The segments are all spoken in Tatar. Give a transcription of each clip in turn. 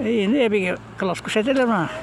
Инде әбигә класс күрсәтәләр моңа.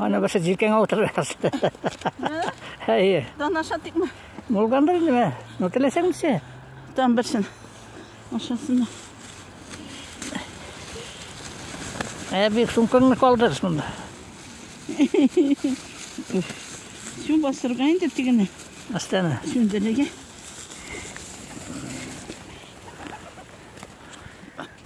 Аны башы җилкәңә утырырсыз. Әйе. Данаша тикме? Булгандыр инде мә. Ну теләсәңчә. Там берсен. Ашасына. Ә бик сумкаңны калдырырсыз монда. Су басырга инде тигене. Астана. Сүндерергә.